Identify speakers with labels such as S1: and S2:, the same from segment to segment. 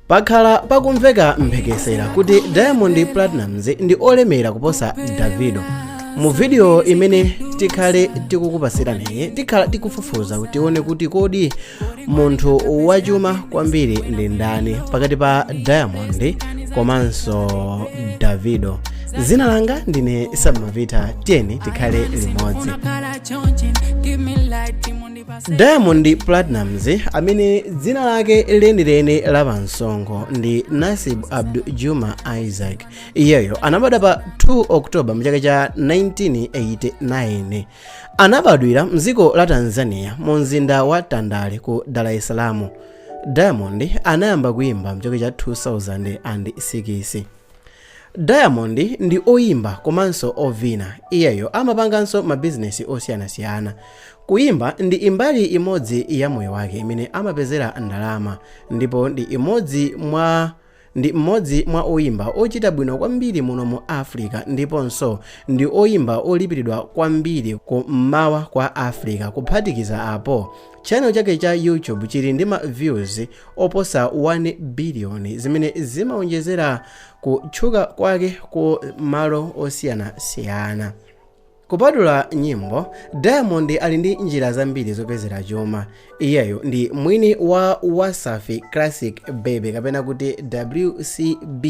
S1: Pakhala pakumveka mphekesera kuti Diamond Platnumz ndi olemera kuposa Davido. Mu video imene tikhale tikukupasirani tikhala tikufufuza kuti tione kuti kodi munthu wachuma kwambiri ndi ndani pakati pa Diamond komanso Davido. Zina langa ndine Samavita, tiyeni tikhale limodzi. diamond platnumz amene dzina lake lenileni la pamsonkho ndi nasibu abdul juma isaac iyeyo anabadwa pa 2 oktoba mchaka cha 1989 anabadwira mdziko la tanzania mu mzinda wa tandale ku dar es salaam diamond anayamba kuimba mchaka cha 2006 Diamond ndi oyimba komanso ovina. Iyeyo amapanganso mabizinesi osiyanasiyana. Kuyimba ndi imbali imodzi ya moyo wake imene amapezera ndalama ndipo ndi mmodzi mwa oyimba ochita bwino kwambiri muno mu Africa ndiponso ndi oyimba olipiridwa kwambiri ku mmawa kwa Africa kuphatikiza apo Channel chake cha YouTube chili ndi ma views oposa 1 billion zimene zimaonjezera kutchuka kwake ku malo osiyanasiyana. Kupatula nyimbo, Diamond ali ndi njira zambiri zopezera chuma. Iyeyo ndi mwini wa Wasafi Classic Baby kapena kuti WCB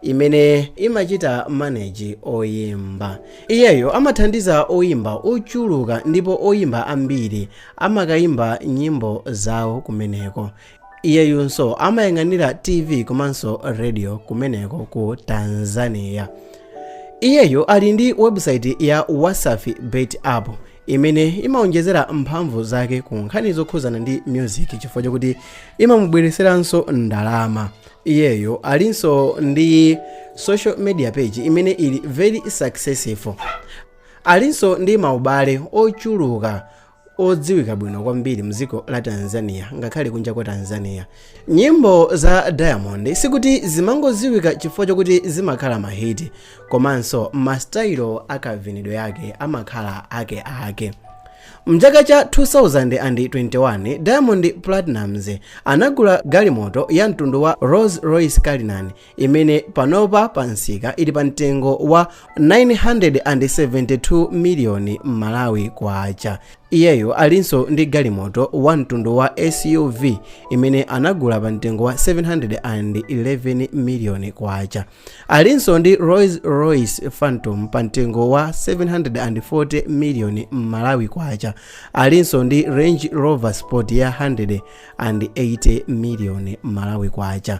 S1: imene imachita manage oyimba. Iyeyo amathandiza oyimba ochuluka ndipo oyimba ambiri amakayimba nyimbo zawo kumeneko iyeyonso amayang'anira tv komanso radio kumeneko ku tanzania iyeyo ali ndi webusaiti ya wasafi bet app imene imaonjezera mphamvu zake ku nkhani zokhuzana ndi music chifukwa chokuti imamubwereseranso ndalama iyeyo alinso ndi social media page imene ili very successful Alinso ndi maubale ochuluka odziwika bwino kwambiri mdziko la Tanzania ngakhale kunja kwa Tanzania. Nyimbo za Diamond sikuti zimangodziwika chifukwa chokuti zimakhala mahiti komanso masitayilo akavinidwe yake amakhala ake ake. Mchaka cha 2021 Diamond Platnumz anagula galimoto ya mtundu wa Rolls Royce Cullinan imene panopa pa msika ili pa mtengo wa 972 miliyoni malawi kwacha iyeyo alinso ndi galimoto wa mtundu wa suv imene anagula pa mtengo wa 711 miliyoni kwacha alinso ndi rolls royce phantom pa mtengo wa 740 miliyoni malawi kwacha alinso ndi range rover sport ya 180 miliyoni malawi kwacha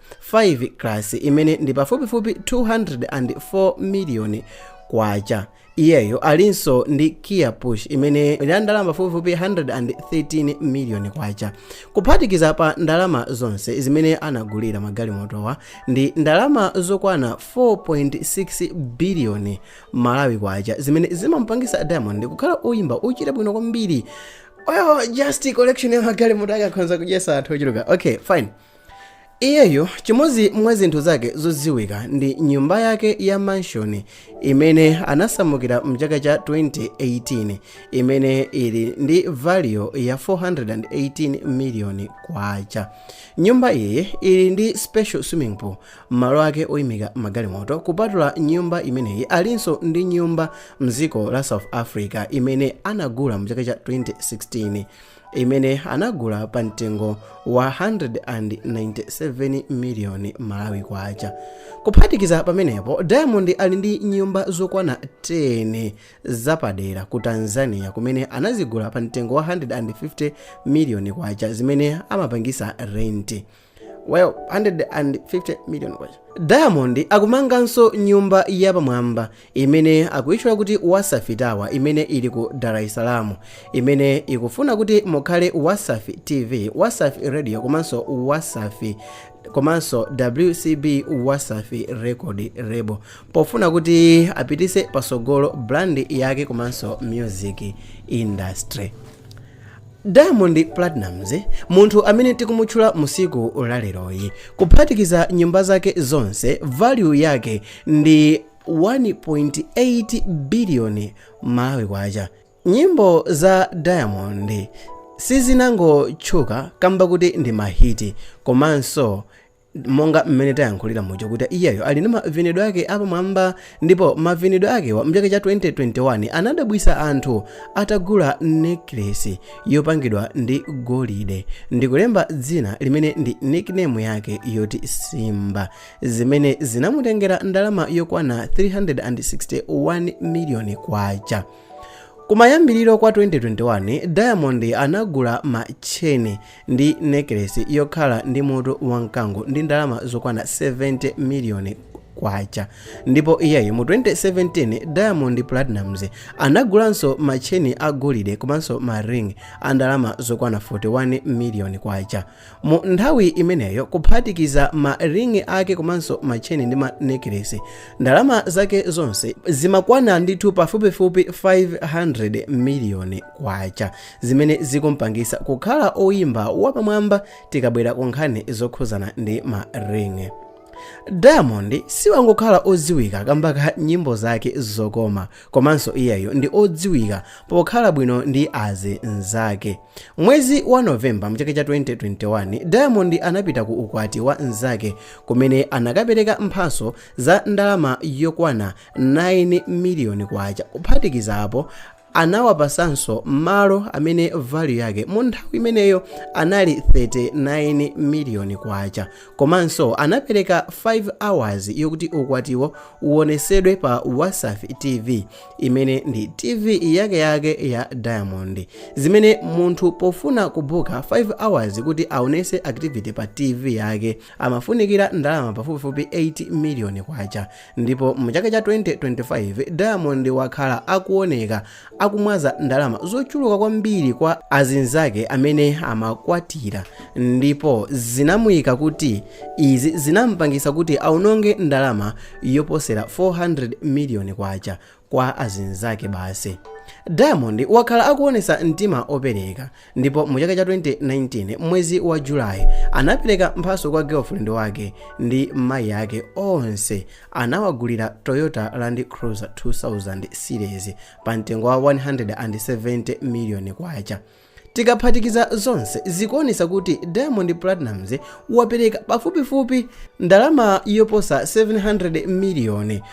S1: 5 class imene ndi pafupifupi 204 miliyoni kwacha iyeyo alinso ndi kia push imene ndi ndalama pafupifupi 113 miliyoni kwacha kuphatikiza pa ndalama zonse zimene anagulira magalimotowa ndi ndalama zokwana 4.6 biliyoni malawi kwacha zimene zimampangisa diamond kukhala oyimba ochita bwino kwambiri oh just collection ya magalimoto akakhoza kudyesa anthu ochuluka okay fine Iyeyo, chimodzi mwa zinthu zake zodziwika ndi nyumba yake ya mansion imene anasamukira mchaka cha 2018 imene ili ndi value ya 418 million kwacha. Nyumba iyi ili ndi special swimming pool, malo ake oimika magalimoto. Kupatula nyumba imeneyi, alinso ndi nyumba mdziko la South Africa imene anagula mchaka cha 2016. imene anagula pa mtengo wa 197 miliyoni malawi kwacha kuphatikiza pamenepo diamond ali ndi nyumba zokwana 10 zapadera ku tanzania kumene anazigula pa mtengo wa 150 miliyoni kwacha zimene amapangisa rent well 150 million kwacha diamond akumanganso nyumba yapamwamba imene akuitchula kuti wasafi tower imene ili ku dar es salaam imene ikufuna kuti mukhale wasafi tv wasafi radio komanso wasafi komanso wcb wasafi record label pofuna kuti apitise pasogolo brand yake komanso music industry Diamond Platnumz, munthu amene tikumutchula musiku laleroyi, kuphatikiza nyumba zake zonse, value yake ndi 1.8 biliyoni Malawi kwacha. Nyimbo za Diamond sizinangotchuka kamba kuti ndi mahiti, komanso monga mmene tayankhulira muja kuti iyeyo ali ndi mavinidwe ake apamwamba ndipo mavinidwe ake mchaka cha 2021 anadabwisa anthu atagula necklace yopangidwa ndi golide ndikulemba dzina limene ndi nickname yake yoti simba zimene zinamutengera ndalama yokwana 361 miliyoni kwacha kumayambiriro kwa 2021 diamond anagula macheni ndi nekelesi yokhala ndi mutu wa mkango ndi ndalama zokwana 70 miliyoni kwacha ndipo iyeyo mu 2017 diamond platnumz anagulanso matcheni a golide komanso ma ring a ndalama zokwana 41 miliyoni kwacha mu nthawi imeneyo kuphatikiza ma ring ake komanso matcheni ndi ma nekelesi ndalama zake zonse zimakwana ndithu pafupifupi 500 miliyoni kwacha zimene zikumpangisa kukhala oyimba wapamwamba tikabwera ku nkhani zokhuzana ndi ma ring diamond siwangokhala odziwika kamba ka nyimbo zake zokoma komanso iyeyo ndi odziwika pokhala bwino ndi azinzake mwezi wa novemba mchaka cha 2021 diamond anapita ku ukwati wa nzake kumene anakapereka mphaso za ndalama yokwana 9 miliyoni kwacha kuphatikiza apo Anawapasanso malo amene value yake mu nthawi imeneyo anali 39 million kwacha komanso anapereka 5 hours yokuti ukwatiwo uonesedwe pa Wasafi TV imene ndi TV yakeyake ya Diamond zimene munthu pofuna kubuka 5 hours kuti aonese activity pa TV yake amafunikira ndalama pafupifupi 8 miliyoni kwacha ndipo mu chaka cha 2025 diamond wakhala akuoneka akumwaza ndalama zochuluka kwambiri kwa azinzake amene amakwatira ndipo zinamuyika kuti izi zinampangisa kuti aononge ndalama yoposera 400 miliyoni kwacha kwa azinzake basi diamond wakhala akuonesa mtima opereka ndipo mu chaka cha 2019 mwezi wa julayi anapereka mphaso kwa girlfriend wake ndi mayi ake onse anawagulira toyota land cruiser 2000 series pa mtengo wa 170 million kwacha Tikaphatikiza zonse zikuonesa kuti Diamond Platnumz wapereka pafupifupi ndalama yoposa 700 miliyoni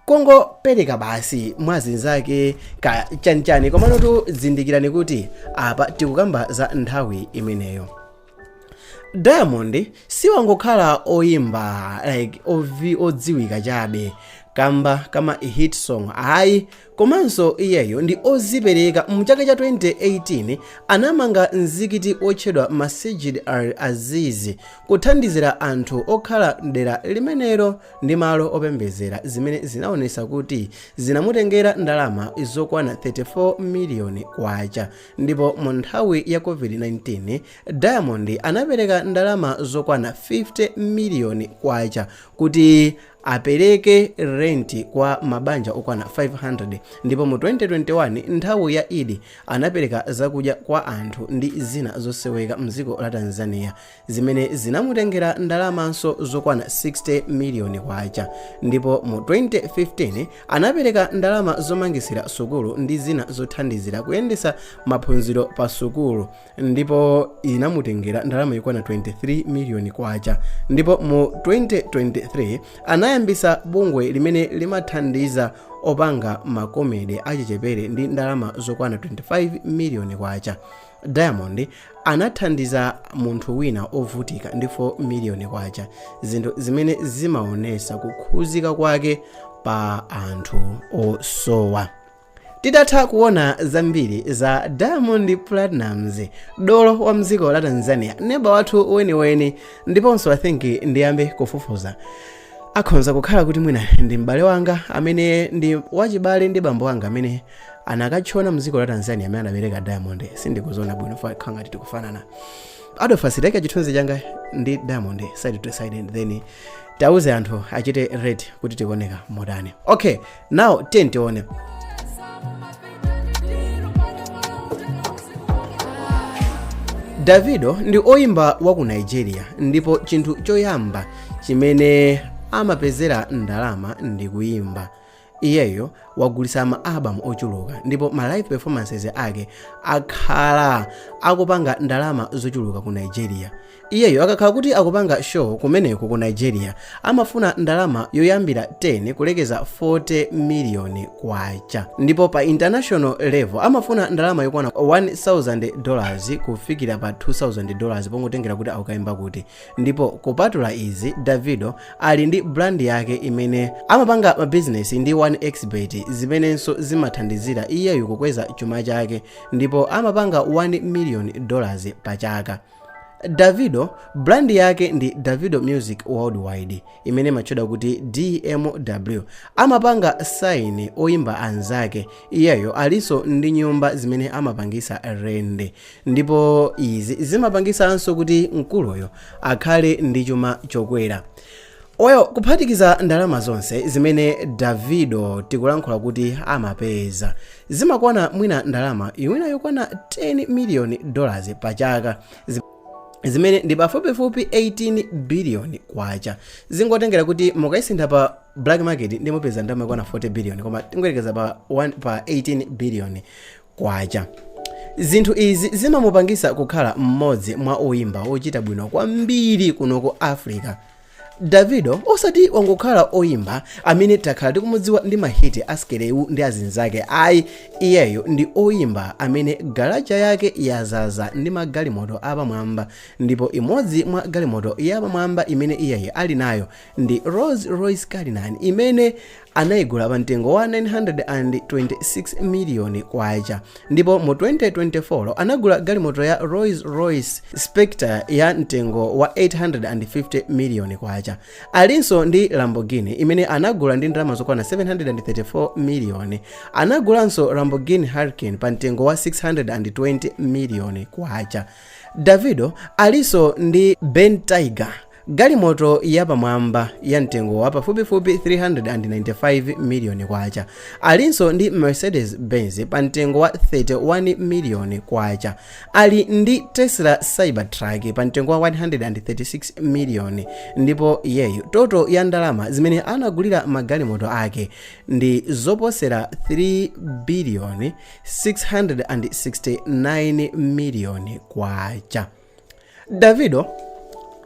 S1: kongopereka basi mwa azinzake ka chanichani komanotu zindikirani kuti apa tikukamba za nthawi imeneyo. diamond siwangokhala oyimba like odziwika chabe kamba ka ma hit song ayi komanso iyeyo ndi ozipereka mu chaka cha 2018 anamanga mzikiti otchedwa masjid al aziz kuthandizira anthu okhala mdera limenelo ndi malo opembezera zimene zinaonesa kuti zinamutengera ndalama zokwana 34 miliyoni kwacha Ndipo mu nthawi ya COVID-19, Diamond anapereka ndalama zokwana 50 miliyoni kwacha kuti apereke renti kwa mabanja okwana 500. Ndipo mu 2021, nthawi ya Eid, anapereka zakudya kwa anthu ndi zina zosoweka m'dziko la Tanzania. zimene zinamutengera ndalamanso zokwana 60 miliyoni kwacha ndipo mu 2015 anapereka ndalama zomangisira sukulu ndi zina zothandizira kuyendesa maphunziro pa sukulu ndipo inamutengera ndalama yokwana 23 miliyoni kwacha ndipo mu 2023 anayambisa bungwe limene limathandiza opanga makomedi achichepere ndi ndalama zokwana 25 miliyoni kwacha diamond anathandiza munthu wina ovutika ndi 4 miliyoni kwacha zinthu zimene zimaonesa kukhuzika kwake pa anthu osowa titatha kuona zambiri za diamond platnumz dolo wa mdziko la tanzania neba wathu weniweni ndiponso i think ndiyambe kufufuza Akhonza kukhala kuti mwina ndi m'bale wanga amene ndi wachibale ndi bambo wanga amene anakatchona mdziko la Tanzania amene anabereka Diamond sindikudziona bwino apa nkhala ngati tikufanana Adolphus taikani chithunzi changa ndi Diamond side to side and then tauze anthu achite rate kuti tikuoneka motani okay now tiyeni tione davido ndi oyimba wa ku nigeria ndipo chinthu choyamba chimene amapezera ndalama ndi kuyimba iyeyo wagulitsa ma album ochuluka ndipo ma live performances ake akhala akupanga ndalama zochuluka ku nigeria Iyeyo akakhala kuti akupanga show kumeneko ku Nigeria amafuna ndalama yoyambira 10 kulekeza 40 million kwacha ndipo pa international level amafuna ndalama yokwana 1000 dollars kufikira pa 2000 dollars pongotengera kuti akukaimba kuti ndipo kupatula izi Davido ali ndi brand yake imene amapanga mabizinesi ndi 1xbet zimenenso zimathandizira iyeyo kukweza chuma chake ndipo amapanga 1 million dollars pa chaka Davido brand yake ndi Davido Music Worldwide imene imatchedwa kuti DMW. Amapanga sign oyimba anzake. Iyeyo alinso ndi nyumba zimene amapangisa renti. Ndipo izi zimapangisanso kuti mkuluyo akhale ndi chuma chokwera. Well, kuphatikiza ndalama zonse zimene Davido tikulankhula kuti amapeza zimakwana mwina ndalama mwina yokwana 10 miliyoni dollars pa chaka zimene ndi pafupifupi 18 biliyoni kwacha zingotengera kuti mukayisintha pa black market nde mupeza ndalama yokwana 40 biliyoni koma tingoyerekeza pa, pa 18 biliyoni kwacha. Zinthu izi zimamupangisa kukhala mmodzi mwa oyimba ochita bwino kwambiri kuno ku Africa. Davido osati wangokhala oyimba amene takhala tikumudziwa ndi mahiti a Skelewu ndi azinzake ayi, iyeyo ndi oyimba amene galaja yake yazaza ndi magalimoto apamwamba ndipo imodzi mwa galimoto yapamwamba imene iyeyo ali nayo ndi Rolls Royce Cullinan imene anaigula pa mtengo wa 926 miliyoni kwacha ndipo mu 2024 anagula galimoto ya Rolls Royce Spectre ya mtengo wa 850 miliyoni kwacha alinso ndi Lamborghini imene anagula ndi ndalama zokwana 734 miliyoni anagulanso Lamborghini Huracan pa mtengo wa 620 miliyoni kwacha Davido alinso ndi Bentayga Galimoto yapamwamba ya mtengo wa pafupifupi K395 miliyoni alinso ndi Mercedes Benz pa mtengo wa K31 miliyoni, ali ndi Tesla Cybertruck pa mtengo wa K136 miliyoni ndipo iyeyo toto ya ndalama zimene anagulira magalimoto ake ndi zoposera K3 biliyoni 669 miliyoni. davido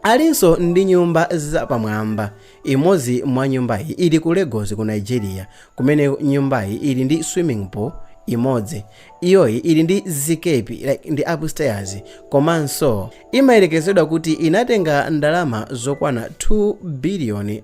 S1: alinso ndi nyumba zapamwamba imodzi mwa nyumbayi ili ku lagos ku nigeria kumene nyumbayi ili ndi swimming pool imodzi iyoyi ili ndi zikepi like, ndi upstairs komanso imayerekezedwa kuti inatenga ndalama zokwana 2 biliyoni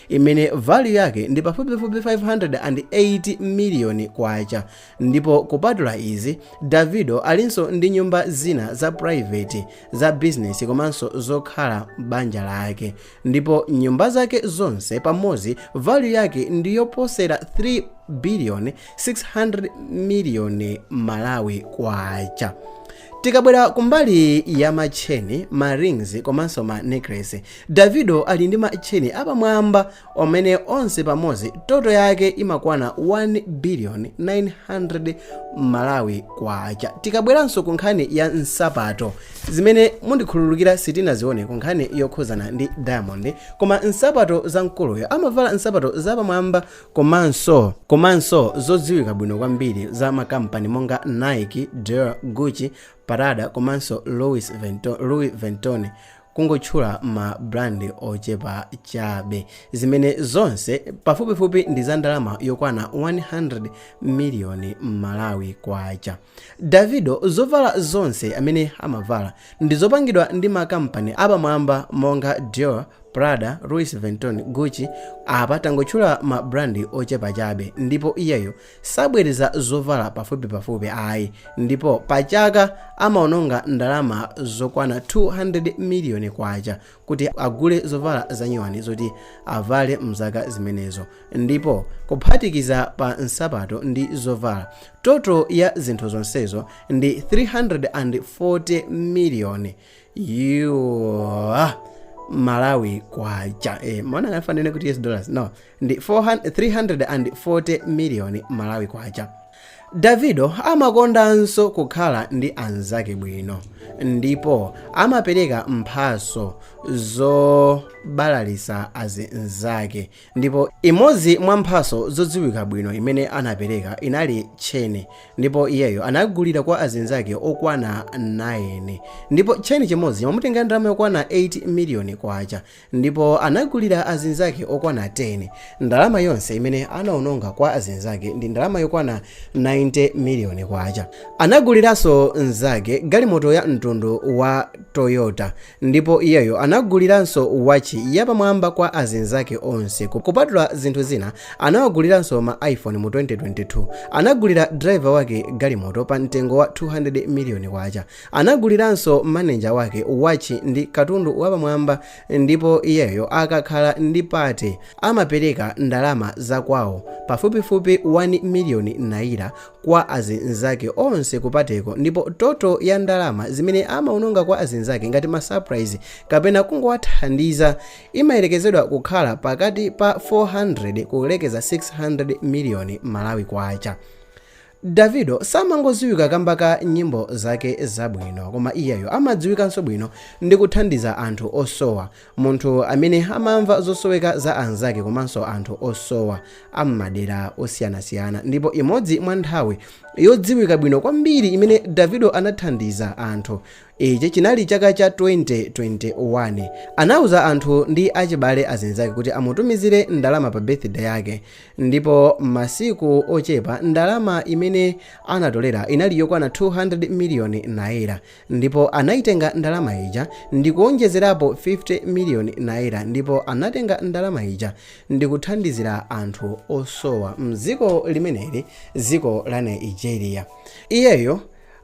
S1: imene value yake ndi pafupifupi 580 miliyoni kwacha ndipo kupatula izi davido alinso ndi nyumba zina za private za bizinesi komanso zokhala banja lake ndipo nyumba zake zonse pamodzi value yake ndi yoposera 3 biliyoni 600 miliyoni malawi kwacha Tikabwera kumbali ya ma chain, ma rings komanso ma necklace, Davido ali ndi ma chain apamwamba omene onse pamodzi toto yake imakwana 1 billion 900 Malawi kwacha. Tikabweranso ku nkhani ya nsapato zimene mundikhululukira sitinazione ku nkhani yokhuzana ndi Diamond koma nsapato za mkuluyo amavala nsapato zapamwamba Komanso zodziwika bwino kwambiri za makampani monga Nike, Dior, Gucci, Prada komanso Louis Vuitton kungotchula ma brand ochepa chabe, zimene zonse pafupifupi ndi za ndalama yokwana 100 miliyoni Malawi kwacha. Davido zovala zonse amene amavala ndizopangidwa ndi makampani apamwamba monga Dior, Prada, Louis Vuitton, Gucci, apa tangotchula ma brand ochepa chabe ndipo iyeyo sabwereza zovala pafupipafupi ayi ndipo pachaka amaononga ndalama zokwana 200 miliyoni kwacha kuti agule zovala zanyuwani zoti avale mzaka zimenezo ndipo kuphatikiza pa nsapato ndi zovala toto ya zinthu zonsezo ndi 340 miliyoni Malawi kwacha eh, mwina ndingafanane kuti us dollars no ndi 340 miliyoni malawi kwacha davido amakondanso kukhala ndi anzake bwino ndipo amapereka mphaso zobalalisa azinzake Ndipo imodzi mwa mphatso zodziwika bwino imene anapereka inali tcheni, ndipo iyeyo anagulira kwa azinzake okwana 9. Ndipo tcheni chimodzi chimamutenga ndalama yokwana 8 miliyoni kwacha, ndipo anagulira azinzake okwana 10. Ndalama yonse imene anaononga kwa azinzake ndi ndalama yokwana 90 miliyoni kwacha. Anaguliranso nzake galimoto ya mtundu wa Toyota, Ndipo iyeyo anaguliranso watchi yapamwamba kwa azinzake onse. Kupatula zinthu zina, anawaguliranso ma iPhone mu 2022. Anagulira driver wake galimoto pa mtengo wa 200 miliyoni kwacha. Anaguliranso manager wake watchi ndi katundu wapamwamba ndipo iyeyo akakhala ndi pate amapereka ndalama za kwawo pafupifupi 1 miliyoni naira kwa azinzake onse kupateko ndipo toto ya ndalama zimene amaononga kwa azinzake ngati ma surprise kapena kungowathandiza imayerekezedwa kukhala pakati pa 400 kulekeza 600 miliyoni malawi kwacha davido samangodziwika kamba ka nyimbo zake zabwino koma iyeyo amadziwikanso bwino ndi kuthandiza anthu osowa Munthu amene amamva zosoweka za anzake komanso anthu osowa a m'madera osiyanasiyana. Ndipo imodzi mwa nthawi yodziwika bwino kwambiri imene Davido anathandiza anthu, ichi chinali chaka cha 2021. Anauza anthu ndi achibale azinzake kuti amutumizire ndalama pa birthday yake. Ndipo masiku ochepa ndalama imene anatolera inali yokwana 200 miliyoni naira. Ndipo anaitenga ndalama ija ndikuonjezerapo 50 miliyoni naira ndipo anatenga ndalama ija ndikuthandizira anthu osowa mziko limeneli ziko la Nigeria. Iyeyo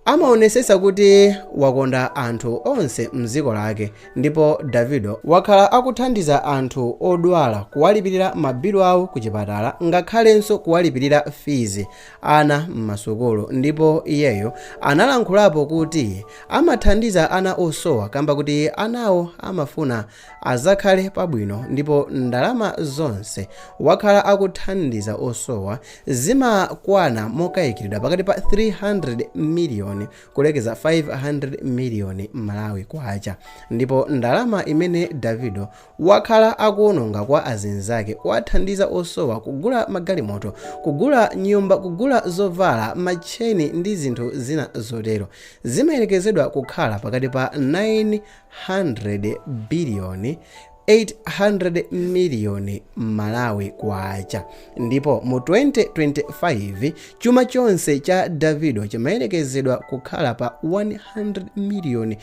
S1: amaonesesa kuti wakonda anthu onse mziko lake ndipo Davido wakhala akuthandiza anthu odwala kuwalipirira ma bill awo kuchipatala ngakhalenso kuwalipirira fees ana m'masukulu ndipo iyeyo analankhulapo kuti amathandiza ana osowa kamba kuti anawo amafuna azakhale pabwino ndipo ndalama zonse wakhala akuthandiza osowa zimakwana mokayikilidwa pakati pa 300 miliyoni kulekeza 500 miliyoni malawi kwacha ndipo ndalama imene davido wakhala akuononga kwa azinzake kuwathandiza osowa, kugula magalimoto, kugula nyumba, kugula zovala, ma chain ndi zinthu zina zotero. Zimayerekezedwa kukhala pakati pa 900 billion 800 million Malawi kwacha. Ndipo mu 2025, chuma chonse cha Davido chimayerekezedwa kukhala pa 100 miliyoni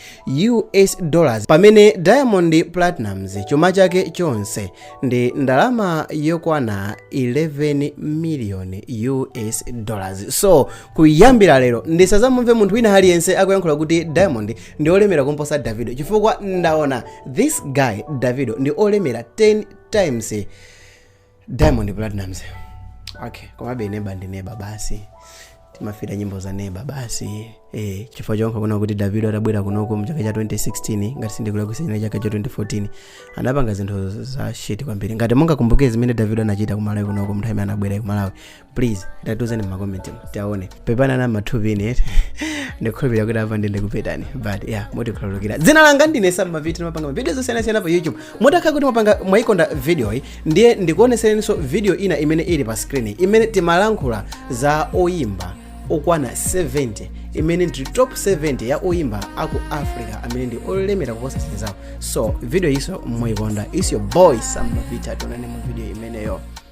S1: US dollars, pamene Diamond Platnumz chuma chake chonse ndi ndalama yokwana 11 miliyoni US dollars. So, kuyambira lero ndisazamumve munthu wina aliyense akuyankhula kuti Diamond ndi olemera kumposa Davido chifukwa ndaona this guy Davido ndi olemera 10 times diamond platnumz okay komabe neba ndi neba basi timafira nyimbo za neba basi eh, chifukwa chonka kuna kuti davido atabwera kunoko mchaka cha 2016 ngati sindikulakwitsa ndi chaka cha 2014 anapanga zinthu za shit kwambiri ngati mungakumbuke zimene davido anachita kumalawi kunoko mnthawi imene anabwera kumalawi please tatiuzani mmakomenti mu tione pepani na mathupi ine eti ndikhulupirira kuti apa ndiye ndakuphetsani but yeah mundikhululukira dzina langa ndine sam mavita ndimapanga mavidiyo osiyanasiyana pa youtube mutakhala kuti mwapanga mwayikonda video yi ndiye ndikuoneseninso video ina imene ili pa screen imene timalankhula za oyimba okwana 70 imene ndi top 70 ya oyimba aku africa amene ndi olemera kuposa anzawo so video yiso muyikonda it's your boy sam mavita tionane mu video imeneyo